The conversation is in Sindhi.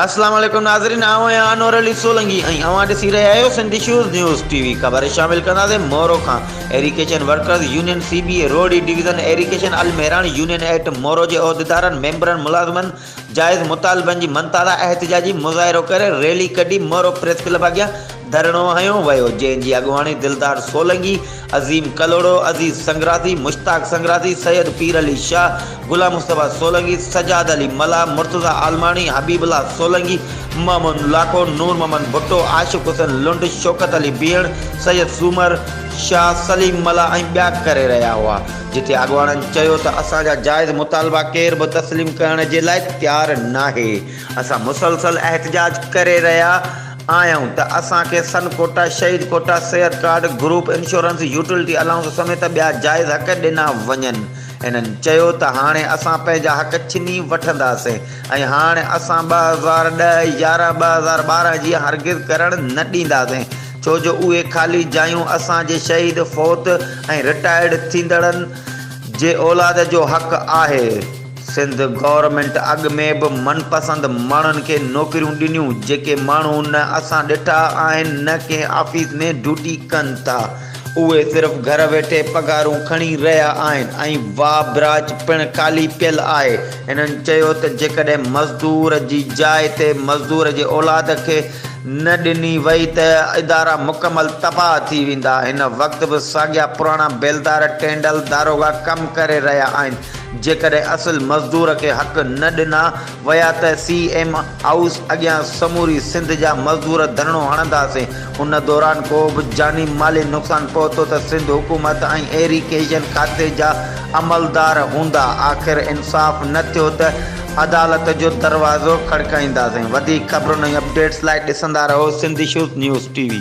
السلام عليڪم ناظرين آئون آهيان انور علي سولنگي ۽ اوهان ڏسي رهيا آهيو Sindh issues news T V خبر شامل ڪنداسين مورو کان irrigation workers union C B A Rohri division irrigation Almehran union at Moro جي عهديدارن ميمبرن ملازمن جائز مطالبن جي مڃتا لاء احتجاجي مظاهرو ڪري ريلي ڪڍي مورو پريس ڪلب اڳيان ڌرڻو هنيو ويو جنهن جي اڳواڻي دلدار سولنگي، عظيم ڪلهوڙو، عزيز سنگراسي، مشتاق سنگراسي، سيد پير علي شاهه، غلام مصطفيٰ سولنگي، سجاد علي ملاح، مرتضيٰ عالماڻي، حبيب الله سولنگي، محمود لاکو، نور محمد ڀٽو، عاشق حسين لنڊ، شوڪت علي بيهڙ، سيد سومر شاهه، سليم ملاح ۽ ٻيا ڪري رهيا هئا. جتي اڳواڻن چيو ته اسان جا جائز مطالبا ڪير به تسليم ڪرڻ جي لاء تيار ناهي، اسان مسلسل احتجاج ڪري رهيا آهيون ته اسان کي سن ڪوٽا، شهيد ڪوٽا، صحت card, group insurance, utility allowance سميت ٻيا جائز حق ڏنا وڃن. هنن چيو ته هاڻي اسان پنهنجا حق ڇني وٺنداسين ۽ هاڻ اسان ٻه هزار ڏهه، يارهن ٻه هزار ٻارهن جيئن هرگز ڪرڻ نه ڏينداسين. ڇو جو اهي خالي جايون اسان جي شهيد، فوت ۽ رٽائرڊ ٿيندڙن جي اولاد جو حق آهي. سنڌ گورنمينٽ اڳ ۾ به من پسند ماڻهن کي نوڪريون ڏنيون جيڪي ماڻهو نه اسان ڏٺا آهن نه ڪنهن آفيس ۾ ڊيوٽي ڪن ٿا، اهي صرف گهر ويٺي پگهارون کڻي رهيا آهن ۽ واء براچ پڻ خالي پيل آهي. هنن چيو ته جيڪڏهن مزدور جي جاء تي مزدور جي اولاد کي نه ڏني وئي ته ادارا مڪمل تباهه ٿي ويندا. هن وقت به ساڳيا پراڻا بيلدار، ٽينڊل، داروغا ڪم ڪري رهيا آهن. جيڪڏهن اصل مزدور کي حق نه ڏنا ويا ته سي ايم هائوس اڳيان سموري سنڌ جا مزدور ڌرڻو هڻنداسين. ان دوران ڪو به جاني مالي نقصان پهتو ته سنڌ حڪومت ۽ ايريگيشن کاتي جا عملدار هوندا. آخر انصاف نه ٿيو ته عدالت جو دروازو کڙڪائينداسين وڌيڪ خبرن ۽ اپڊيٽس لاء ڏسندا رهو Sindh issues news T V.